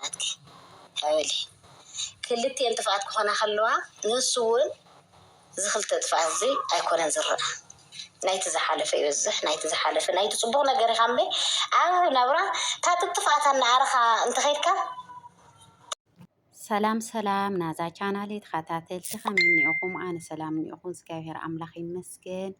ናትኪ ሓወሊ ክልቲኤን ጥፍኣት ክኾና ከለዋ ንሱ ውን እዚ ክልተ ጥፍኣት እዚ ኣይኮነን ዝረኣ ናይቲ ዝሓለፈ ይበዝሕ ናይቲ ዝሓለፈ ናይቲ ጽቡቕ ነገር ኢኻ እምበይ ኣብ ናብራ ታትብ ጥፍኣት ኣናኣረኻ እንተኸይድካ ሰላም ሰላም ናዛ ቻናል ተኸታተልቲ ከመይ እኒኦኹም? ኣነ ሰላም እኒኦኹ እግዚኣብሔር ኣምላኽ ይመስገን።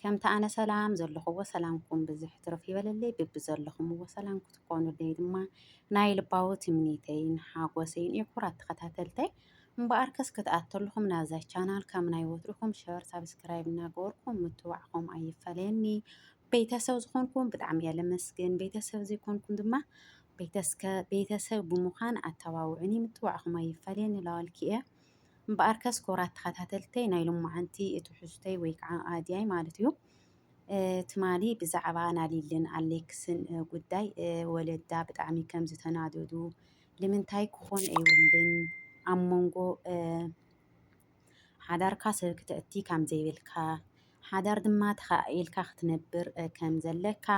ከምቲ ኣነ ሰላም ዘለኹዎ ሰላምኩም ብዝሕ ትርፍ ይበለለይ ብብዘለኹምዎ ሰላም ክትኮኑለይ ድማ ናይ ልባዊ ትምኒተይን ሓጎሰይን እዩ ኩራት ተኸታተልተይ እምበኣር ከስ ክትኣተልኹም ናብዛ ቻናል ከም ናይ ወትርኹም ሸር ሳብስክራይብ እናገበርኩም ምትባዕኹም ኣይፈለየኒ ቤተሰብ ዝኾንኩም ብጣዕሚ እየ ለመስግን ቤተሰብ ዘይኮንኩም ድማ ቤተሰብ ብምዃን ኣተባብዑኒ ምትባዕኹም ኣይፈለየኒ ላዋልኪ እየ እምበኣርከስ ክቡራት ተኸታተልተይ ናይ ሎማዓንቲ ትሕዝቶይ ወይ ከዓ ኣድያይ ማለት እዩ ትማሊ ብዛዕባ ናሊልን ኣሌክስን ጉዳይ ወለዳ ብጣዕሚ ከም ዝተናደዱ ልምንታይ ክኾን ኣይብልን ኣብ መንጎ ሓዳርካ ሰብ ክተእቲ ከም ዘይብልካ ሓዳር ድማ ተኸኣኢልካ ክትነብር ከም ዘለካ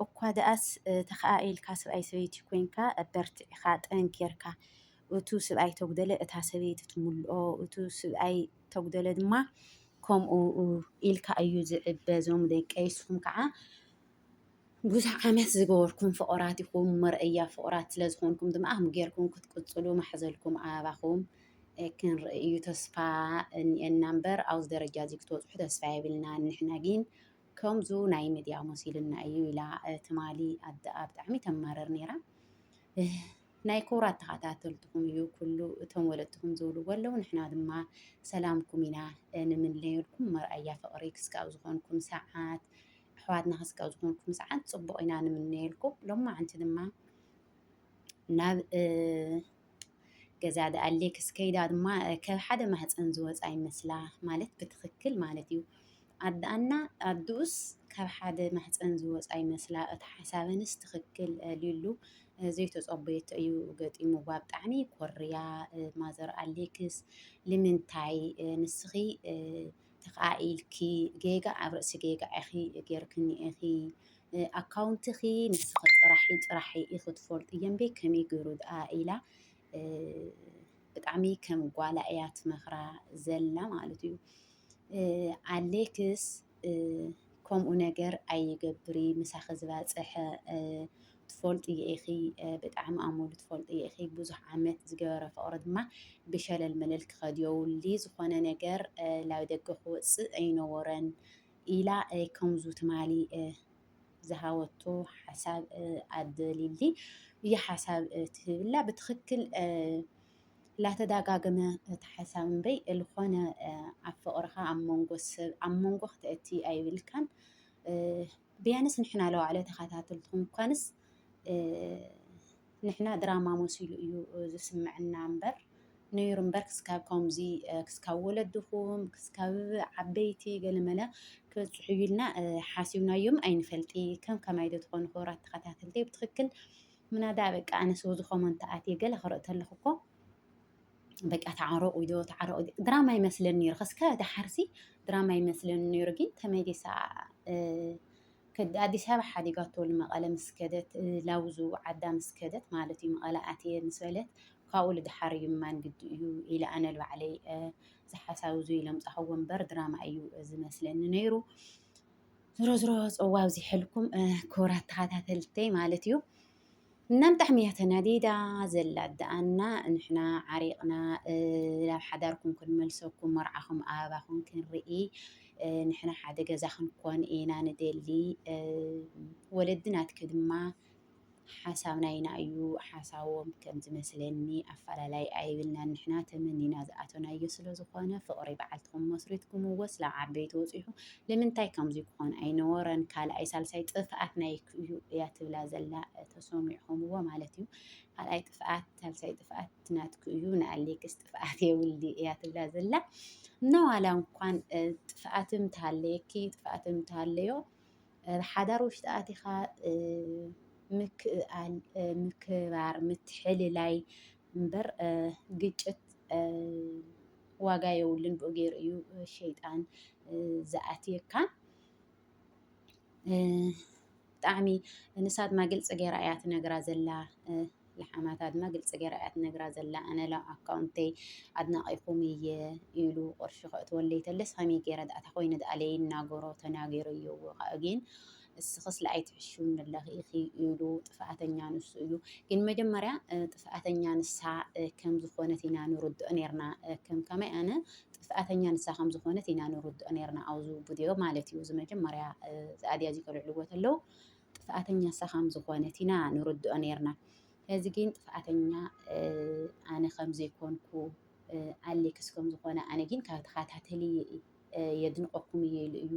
እኳ ደኣስ ተኸኣኢልካ ስብኣይ ሰበይቲ ኮንካ በርቲዕኻ ጠንኪርካ እቱ ስብኣይ ተጉደለ እታ ሰበይቲ ትምልኦ እቱ ስብኣይ ተጉደለ ድማ ከምኡ ኢልካ እዩ ዝዕበ ዞም ደቀይ ንስኹም ከዓ ብዙሕ ዓመት ዝገበርኩም ፍቑራት ኢኹም መርኣያ ፍቑራት ስለ ዝኾንኩም ድማ ጌርኩም ክትቅፅሉ ማሕዘልኩም ኣባኹም ክንርኢ እዩ ተስፋ እኒኤና እምበር ኣብዚ ደረጃ እዚ ክትበፅሑ ተስፋ የብልናን ንሕና ግን ከምዙ ናይ ሚድያ መሲሉና እዩ ኢላ ትማሊ ኣደኣ ብጣዕሚ ተማርር ነይራ። ናይ ክቡራት ተኸታተልትኹም እዩ ኩሉ እቶም ወለድትኹም ዝብልዎ ኣለዉ ንሕና ድማ ሰላምኩም ኢና ንምንለየልኩም መርኣያ ፍቕሪ ክስካብ ዝኾንኩም ሰዓት ኣሕዋትና ክስካብ ዝኾንኩም ሰዓት ፅቡቕ ኢና ንምነየልኩም ሎማዓንቲ ድማ ናብ ገዛ ደኣ ሌክስ ከይዳ ድማ ካብ ሓደ ማህፀን ዝወፃ ይመስላ ማለት ብትኽክል ማለት እዩ። ኣደኣና ኣድኡስ ካብ ሓደ ማህፀን ዝወፃ ይመስላ እቲ ሓሳበንስ ትኽክል ሊሉ ዘይተፀበየቶ እዩ ገጢሙዋ ብጣዕሚ ኮርያ ማዘር ኣሌክስ ልምንታይ ንስኺ ተኸኣኢልኪ ጌጋ ኣብ ርእሲ ጌጋ ኢኺ ጌርክኒ ኢኺ ኣካውንትኺ ንስኺ ጥራሒ ጥራሒ ኢኺ ትፈልጡ የምበይ ከመይ ገይሩ ድኣ ኢላ ብጣዕሚ ከም ጓላ እያ ትመኽራ ዘላ ማለት እዩ። ኣሌክስ ከምኡ ነገር ኣይገብሪ ምሳኺ ዝበፅሐ ትፈልጥዮ ኢኺ ብጣዕሚ ኣመሉ ትፈልጥዮ ኢኺ ብዙሕ ዓመት ዝገበረ ፍቕሪ ድማ ብሸለል መለል ክኸድዮ ውሊ ዝኾነ ነገር ላብ ደገ ክወፅእ ኣይነበሮን ኢላ ከምዙ ትማሊ ዝሃበቶ ሓሳብ ኣደሊሊ እዩ ሓሳብ ትህብላ ብትኽክል ላተዳጋገመ እቲ ሓሳብ እምበይ ዝኾነ ኣብ ፍቕርኻ ኣብ መንጎ ሰብ ኣብ መንጎ ክተእቲ ኣይብልካን ብያንስ ንሕና ለዋዕለ ተኸታተልትኹም እኳንስ ንሕና ድራማ መሲሉ እዩ ዝስምዕና እምበር ነይሩ እምበር ክስካብ ከምዚ ክስካብ ወለድኹም ክስካብ ዓበይቲ ገለመለ ክበፅሑ ኢልና ሓሲብናዮም ኣይንፈልጢ ከም ከማይ ዶ ትኾኑ ክብራት ተኸታተልቲ ብትኽክል ምናዳ በቃ ኣነስ ወዚ ኮመንት ኣትየ ገለ ክርኢ ተለኹ እኮ በቃ ተዓረቑ ዶ ተዓረቑ ድራማ ይመስለን ነይሩ ከስካ ድሓርሲ ድራማ ይመስለን ነይሩ ግን ተመሊሳ ኣዲስ ኣበባ ሓዲጋቶ ንመቐለ ምስ ከደት ላውዙ ዓዳ ምስ ከደት ማለት እዩ መቐለ ኣትየ ምስ በለት ካብኡ ልድሓር እዩ ማን ግዲ እዩ ኢለ ኣነ ባዕለይ ዝሓሳብ እዚ ኢሎም ፃሕዎ እምበር ድራማ እዩ ዝመስለኒ ነይሩ ዝሮ ዝሮ ፅዋ ኣብዚሐልኩም ክቡራት ተኸታተልተይ ማለት እዩ እናም ብጣዕሚ እያ ተናዲዳ ዘላ ኣደኣና ንሕና ዓሪቕና ናብ ሓዳርኩም ክንመልሰኩም መርዓኹም ኣባኹም ክንርኢ ንሕና ሓደ ገዛ ክንኮን ኢና ንደሊ ወለዲ ናትኪ ድማ ሓሳብና ኢና እዩ ሓሳቦም ከም ዝመስለኒ ኣፈላላይ ኣይብልና ንሕና ተመኒና ዝኣተናዮ ስለ ዝኾነ ፍቕሪ በዓልትኹም መስሪትኩምዎ ስለ ዓበይቲ ወፂሑ ልምንታይ ከምዙይ ክኾን ኣይነበሮን ካልኣይ ሳልሳይ ጥፍኣት ናይክ እዩ እያ ትብላ ዘላ ተሰሚዕኹምዎ ማለት እዩ ካልኣይ ጥፍኣት ሳልሳይ ጥፍኣት ናትክ እዩ ንኣሌክስ ጥፍኣት የብሉ እያ ትብላ ዘላ እና ዋላ እንኳን ጥፍኣትም ተሃለየኪ ጥፍኣትም ተሃለዮ ሓዳር ውሽጢ ኣቲኻ ምክእኣል ምክባር ምትሕልላይ እምበር ግጭት ዋጋ የብሉን ብኡ ገይሩ እዩ ሸይጣን ዝኣትየካ ብጣዕሚ ንሳ ድማ ግልፂ ገይራ እያ ትነግራ ዘላ ልሓማታ ድማ ግልፂ ገይራ እያ ትነግራ ዘላ ኣነ ላብ ኣካውንተይ ኣድናቂኹም እየ ኢሉ ቅርሺ ከእትወለይ ተለስ ከመይ ገይረ ድኣ እታ ኮይኑ ድኣ ለይናገሮ ተናጊሩ እዩ ግን እስኽስ ለኣይ ትሕሹን ኣለኺ ኢኺ ኢሉ ጥፍኣተኛ ንሱ እዩ። ግን መጀመርያ ጥፍኣተኛ ንሳ ከም ዝኾነት ኢና ንርድኦ ነርና ከም ከመይ ኣነ ጥፍኣተኛ ንሳ ከም ዝኾነት ኢና ንርድኦ ነርና ኣብዚ ቪድዮ ማለት እዩ። እዚ መጀመርያ ዝኣድያ እዚ ከልዕልዎ ተለው ጥፍኣተኛ ንሳ ከም ዝኾነት ኢና ንርድኦ ነርና። እዚ ግን ጥፍኣተኛ ኣነ ከም ዘይኮንኩ ኣሌክስ ከም ዝኾነ ኣነ ግን ካብ ተኸታተሊ የድንቐኩም እየ ኢሉ እዩ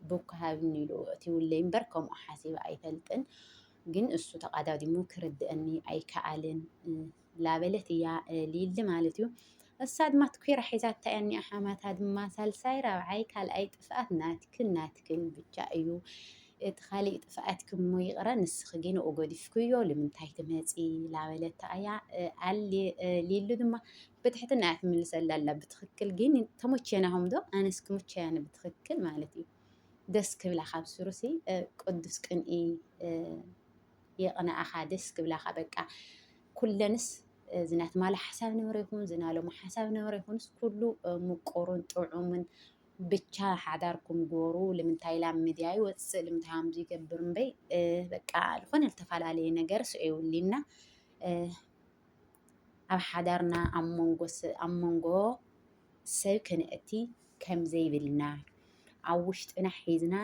ቡክ ሃብኒ ኢሉ ኣእትዩለይ እምበር ከምኡ ሓሲበ ኣይፈልጥን። ግን እሱ ተቓዳዲሙ ክርድእኒ ኣይከኣልን ላበለት እያ ሊሊ ማለት እዩ። እሳ ድማ ትኲራ ሒዛታ እያ እኒኣ ሓማታ ድማ ሳልሳይ ራብዓይ ካልኣይ ጥፍኣት ናትክን ናትክን ብቻ እዩ። እቲ ካሊእ ጥፍኣትኪ እሞ ይቕረ ንስኺ ግን ንኡ ገዲፍክዮ ልምንታይ ትመፂ ላበለታ እያ ኣሊ ሊሉ ድማ ብትሕትና እያ ትምልሰላ ኣላ ብትክክል ግን ተሞቼናኹም ዶ ኣነስ ክምቸያኒ ብትክክል ማለት እዩ ደስ ክብላ ካብ ስሩሲ ቅዱስ ቅንኢ የቕንኣኻ ደስ ክብላኻ በቃ ኩለንስ ዝናትማለ ሓሳብ ነበረ ይኹን ዝናለሙ ሓሳብ ነበረ ይኹንስ ኩሉ ምቁሩን ጥዑምን ብቻ ሓዳርኩም ጎሩ ልምንታይ ላም ሚድያ ይወፅእ ልምንታይ ከምዚ ይገብር እምበይ በቃ ዝኾነ ዝተፈላለየ ነገር ስዑ ይውሊና ኣብ ሓዳርና ኣብ መንጎ ሰብ ክንእቲ ከምዘይብልና ኣብ ውሽጥና ሒዝና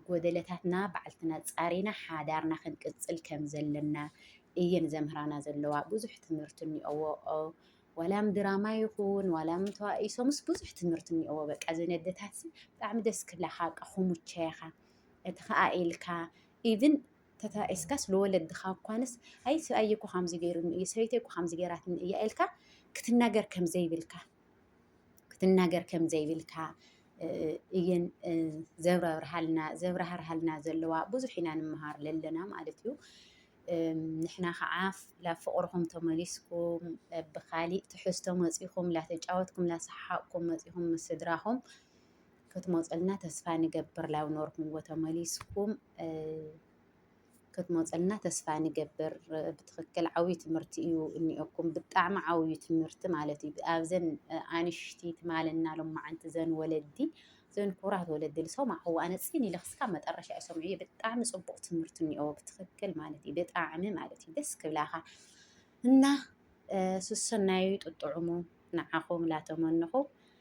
ጎደለታትና ባዕልትና ኣፃሪና ሓዳርና ክንቅፅል ከምዘለና እየን ዘምህራና ዘለዋ። ብዙሕ ትምህርቲ እኒኦዎ ዋላ ብ ድራማ ይኹን ዋላ ብ ተዋኢሶምስ ብዙሕ ትምህርቲ እኒኦዎ። በቃ እዘን ኣደታት ብጣዕሚ ደስ ክብላኻ በቃ ክሙቸያኻ እቲ ኸኣ ኢልካ ኢቭን ተተራእየስካስ ንወለድኻ እኳንስ ኣይ ሰብኣየ እኮ ከምዚ ገይሩኒ እዩ ሰበይተይ እኮ ከምዚ ገይራትኒ እያ ኢልካ ክትናገር ከም ዘይብልካ ክትናገር ከም ዘይብልካ እየን ዘብራርሃልና ዘብራህርሃልና ዘለዋ ብዙሕ ኢና ንምሃር ለለና ማለት እዩ። ንሕና ከዓ ላብ ፍቕርኹም ተመሊስኩም ብካሊእ ትሕዝቶ መፂኹም ላተጫወትኩም ላሰሓሓቕኩም መፂኹም ምስ ስድራኹም ክትመፁልና ተስፋ ንገብር ላብ ኖርኩምዎ ተመሊስኩም ክትመፁልና ተስፋ ንገብር። ብትኽክል ዓብዪ ትምህርቲ እዩ እኒኦኩም ብጣዕሚ ዓብዪ ትምህርቲ ማለት እዩ። ኣብዘን ኣንሽቲ ትማልና ሎማዓንቲ ዘን ወለዲ ዘን ኩራት ወለዲ ዝሰማዕዎ ኣነ ፅን ኢለ ክስካብ መጠረሻ እዩ ሰምዑ ብጣዕሚ ፅቡቕ ትምህርቲ እኒኦ ብትኽክል ማለት እዩ። ብጣዕሚ ማለት እዩ ደስ ክብላኻ እና ስሰናዩ ጥጥዑሙ ንዓኹም ላተመንኹ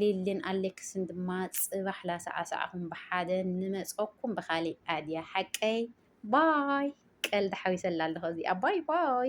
ሊሊን ኣሌክስን ድማ ጽባሕ ላሰዓስዓኹም ብሓደ ንመጸኩም ብካሊእ ኣድያ ሓቀይ ባይ ቀልዲ ሓዊሰላ ኣለኹ እዚኣ ባይ ባይ።